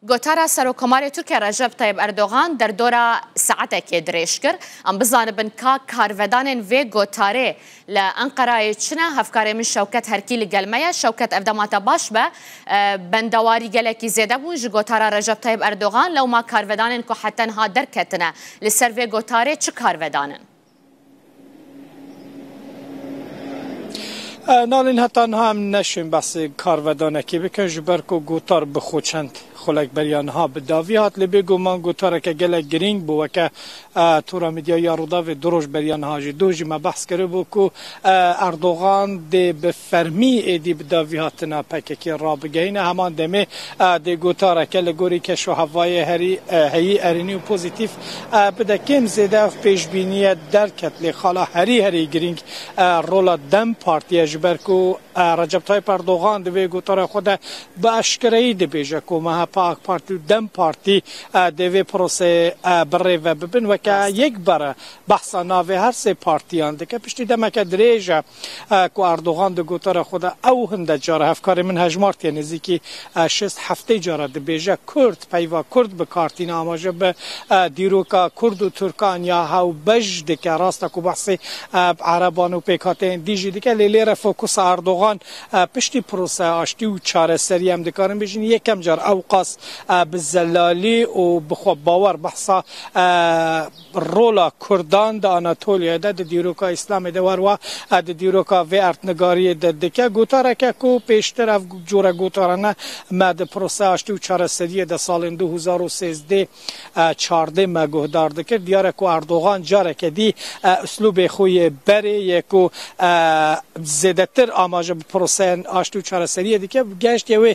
Gotara Serokkomarê Tirkiye Recep Tayyip Erdogan derdora saetekê dirêj kir. Em bizanibin ka karvedanên vê gotarê li Enqerayê çi ne, hevkarê min Şewket Herkî li gel me ye. Şewket, Ev dema te baş be. Bendewarî gelekî zêde bûn ji gotara Recep Tayyip Erdogan. Lewma karvedanên ku heta niha derketine li ser vê gotarê çi karvedan in? Nalin heta niha em neşên behsê karvedanekê bikin ji ber ku gotar bi xwe çend xulek beriya niha bi davî hat lê bêguman gotareke gelek girîng bû weke Tora Mîdya ya Rûdawê du roj beriya niha jî. Doh jî me behs kiribû ku Erdogan dê bi fermî êdî bi davihatina PKK'ê rabigihîne. Heman demê dê gotareke li gorî keşohevayê herî heyî erênî û pozîtîf bide. Kêm zêde ev pêşbînîye derket lê xala herî herî girîng rola dem Partî ye ji ber ku Recep Tayyîp Erdogan di vê gotarê xwe de bi eşkereyî dibêje ku MHP, AK Partî û dem Partî dê vê proseyê birêve bibin weke yek bare. Behsa navê her sê partiyan dike. Piştî demeke dirêj e ku Erdogan di gotara xwe de ew hinde cara hevkarê min hejmartiye nêzîkî şêst heftê cara dibêje Kurd peyva Kurd bi kar tîne amaje bi dîroka Kurd û Tirkan ya hewbej dike. Rast e ku behsê Ereban û pêkhateyên dî jî dike lê lêre fokusa Erdogan piştî proseya aştî û çareserî em dikarin bêjin yekem car ewqas bi zelalî û bi xwebawer behsa Rola Kurdan di Anatoliyayê de di dîroka Îslamê de wer wa e di dîroka vê erdnigariyê de dike. Gotareke ku pêştir ev cure gotarane me di proseya aştî û çareseriyê de salên du hezar û sêzdeh û çardeh me guhdar dikir. Diyar e ku Erdogan careke dî uslûbê xwe yê berê yê ku zêdetir amaje bi proseyên aştî û çareseriyê dike, gehiştiye wê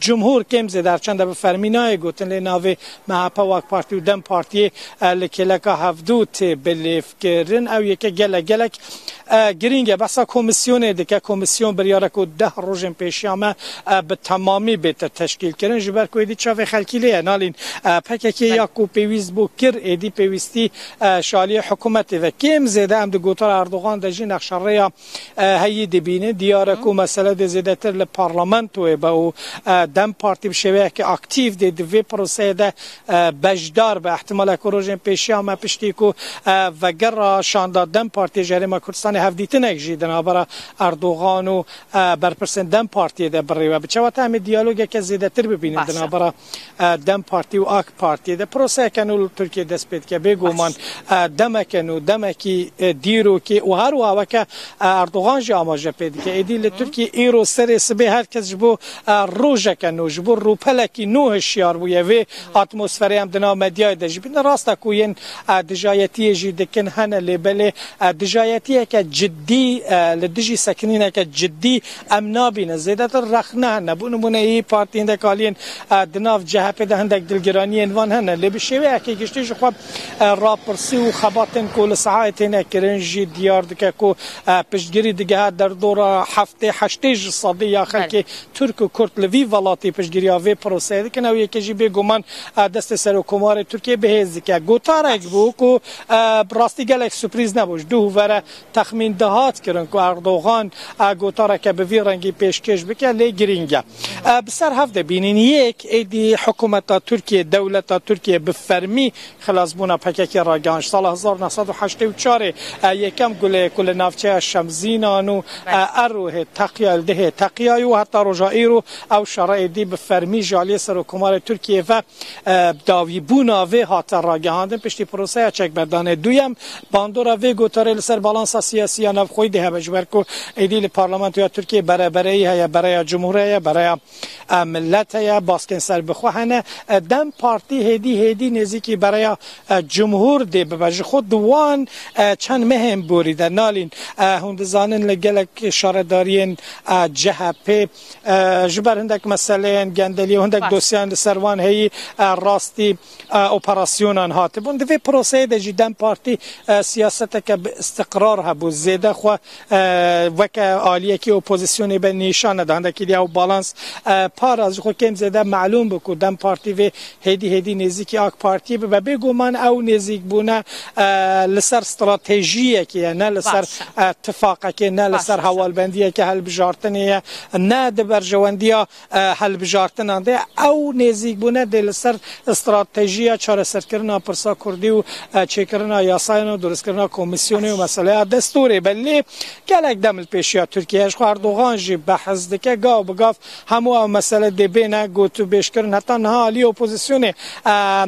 Cumhur kêm zêde her çend bi fermî nayê gotin lê navê MHP û AK Partî û Dem Partîyê li kêleka hevdu tê bilêvkirin. Ew yeke gelek gelek girîng e. Behsa komîsyonê dike. Komîsyon biryare ku deh rojên pêşiya me bi temamî bête teşkîlkirin. Ji ber ku êdî çavê xelkî lê ye nalîn pkk ya ku pêwîst bû kir êdî pêwîstî ji aliyê hikûmetê ve. Kêm zêde em di gotara Erdogan de jî nexşerêya heyî dibînin. Diyar e ku mesele dê zêdetir li parlamentoyê be û dem partî bi şêweyekî aktîf dê di vê proseyê de beşdar be. Îhtîmal e ku rojên pêşiya me piştî ku vegera şanda dem partiyê ji Herêma Kurdistanê hevdîtinek jî di navbera Erdogan û berpirsên dem partiyê de birêve. Bi çawa te em ê diyalogeke zêdetir bibînin di navbera dem Partî û ak Partî de proseyeke nû li Tirkiyeyê dest pê dike. Bêguman demeke nû, demekî dîrokê û her wiha weke Erdogan jî amaje pê dike. Êdî li Tirkiyeyê îro serê sibê her kes ji bo rojeke nû, ji bo rûpelekî nû hişyar bûye. Vê atmosferê em di nav medyayê de jî bîne. Rast e ku yên dijayetiyê jî dikin hene lê belê dijayetiyeke cidî li dijî sekinîneke cidî Em nabînin zêdetir rexne hene. Bo nimûne yê partî hindek aliyên di nav CHP'ê de hindek dilgiraniyên van hene. Lê bi şêweyekî giştî ji xwe rapirsî û xebatên ku li sehayê têne kirin jî diyar dike ku piştgirî digehe derdora heftê heştê ji sedî ya xelkê Tirk û Kurd li vî welatî piştgiriya vê proseyê dikin. Ew yekê jî bêguman destê Serokkomarê Tirkiyê bihêz dike. Gotarek bû ku bi rastî gelek suprîz nebû. Ji duh û ve re Texmîn dihat kirin ku Erdogan a gotareke bi vî rengî pêşkêş bike lê girîng e. Bi ser hev de bînîn yek êdî hikûmeta Tirkiyê, dewleta Tirkiyê bi fermî xilasbûna PKK'ê ragihand. Ji sala hezar û neh sed û heştê û çar ê yekem gulê ku li navçeya Şemzînan û Errohê teqiya li Dihê teqiyayî û heta roja îro ew şera êdî bi fermî ji aliyê Serokkomarê Tirkiyê ve Dawîbûna vê hate ragihandin piştî proseya çekberdanê duyem. Bandora vê gotarê li ser balansa siyasî ya navxweyî dê hebe ji ber ku êdî li parlamentoya Tirkiyeyê berebereyî heye, bereya cumhur heye, bereya milet heye, baskên serbixwe hene. Dem Partî hêdî hêdî nêzîkî bereya cumhur dê bibe. Ji xwe di wan çend mehên borî de nalîn. Hûn dizanin li gelek şaredariyên CHPê Ji ber hindek meseleyên gendelî û hindek dosyeyên li ser wan heyî rastî operasyonan hatibûn. Di vê proseyê de jî dem Partî siyaseteke bi îstiqrar hebû. Zêde xwe weke aliyekî opozisyonê be nîşan neda. Hindekî dî ew balans para ji xwe kêm zêde melûm bû ku dem Partî vê hêdî hêdî nêzîkî AK Partiyê bibe. Bêguman ew nêzîkbûne li ser stratejiyekê ye ne li ser tifaqekê ne li ser hewalbendiyeke hilbijartinê ye ne di berjewendiya hilbijartinan de ew nêzîkbûne dê li ser stratejiya çareserkirina pirsa Kurdî û çêkirina yasayan û duristkirina komîsyonê û meseleya destûrê be. Lê gelek dem li pêşiya Tirkiyeyê ji xwe Erdogan jî behs dike gav bi gav Hemû ev mesele dê bêne gotûbêjkirin. Heta niha aliyê opozîsyonê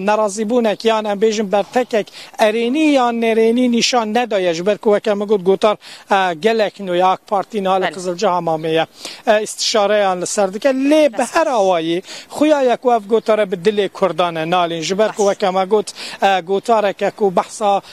nerazîbûnek yan em bêjin bertekek erênî yan nerênî nîşan nedaye ji ber ku weke min got gotar gelek nû ye AK Partî niha li Qizilciha mamê ye îstîşareyan li ser dike lê bi her awayî xuya ye ku ev gotare bi dilê Kurdan e nalîn ji ber ku weke me got gotareke ku behsa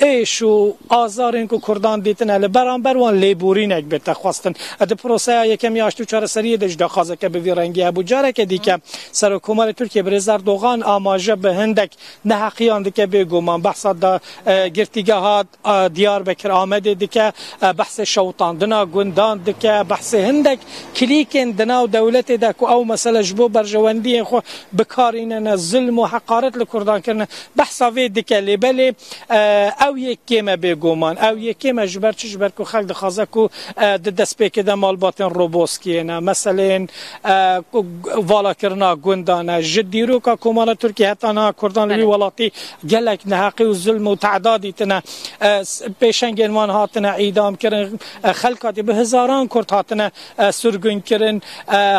Êş û azarên ku Kurdan dîtine li beramber wan lêborînek bê texwestin. Di proseya yekem ya aştî û çareseriyê de jî daxwazeke bi vî rengî hebû. Careke dîke Serokkomarê Tirkiyê Birêz Erdogan amaje bi hindek neheqiyan dike. Bêguman behsa girtîgeha Diyarbekir Amedê dike, behsê şewitandina gundan dike, behsê hindek klîkên di nav dewletê de ku ew mesele ji bo berjewendiyên xwe bikarînine, zilm û heqaret li Kurdan kirine. Behsa vê dike lê belê ew yê kêm e bêguman. Ew yê kêm e ji ber çi? Ji ber ku xelk dixwaze ku di destpêkê de malbatên Roboskiê ne, meseleyên valakirina gundan e. Ji dîroka Komara Tirkiyê heta niha kurdan li wî welatî gelek neheqî û zulm û teda dîtine. Pêşengên wan hatine îdamkirin. Xelk hatî bi hizaran kurd hatine sirgûn kirin,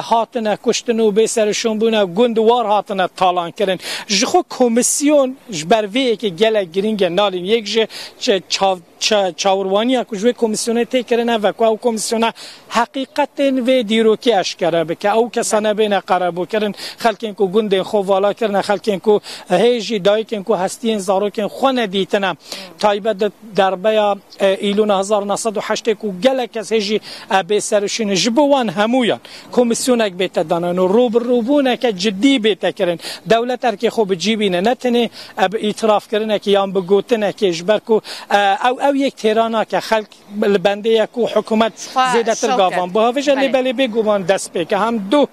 hatine kuştin û bêserişûn bûne, gund war hatine talankirin. Ji xwe komîsyon ji ber vê yekê gelek girîng e. Nalîn yek ji çawirwaniyan ku ji wê komîsyonê tê kirin ev e ku ew komîsyona heqîqetên vê dîrokê eşkere bike. Ew kesa nebêne qerebûkirin, xelkên ku gundên xwe vala kirine, xelkên ku hê jî dayikên ku hestiyên zarokên xwe nedîtine, taybet di derbeya Îlona hezar û neh sed û heştê ku gelek kes hê jî bê serûşîn in, ji bo wan hemûyan komîsyonek bête danan û rûbirûbûneke cidî bête kirin, dewlet erkê xwe bi cî bîne, ne tenê bi îtirafkirinekê yan bi gotinekê ji ber ku ew ew yek têra nake, xelk li bendê ye ku hikûmet zêdetir gavan bû. Hevij e lê belê bêguman destpêk e. Hem du.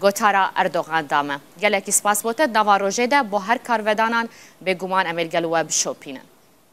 Gotara Erdogan da me. Gelekî spas bo te di nava rojê de bo her karvedanan. Bêguman em ê li gel we bişopînin.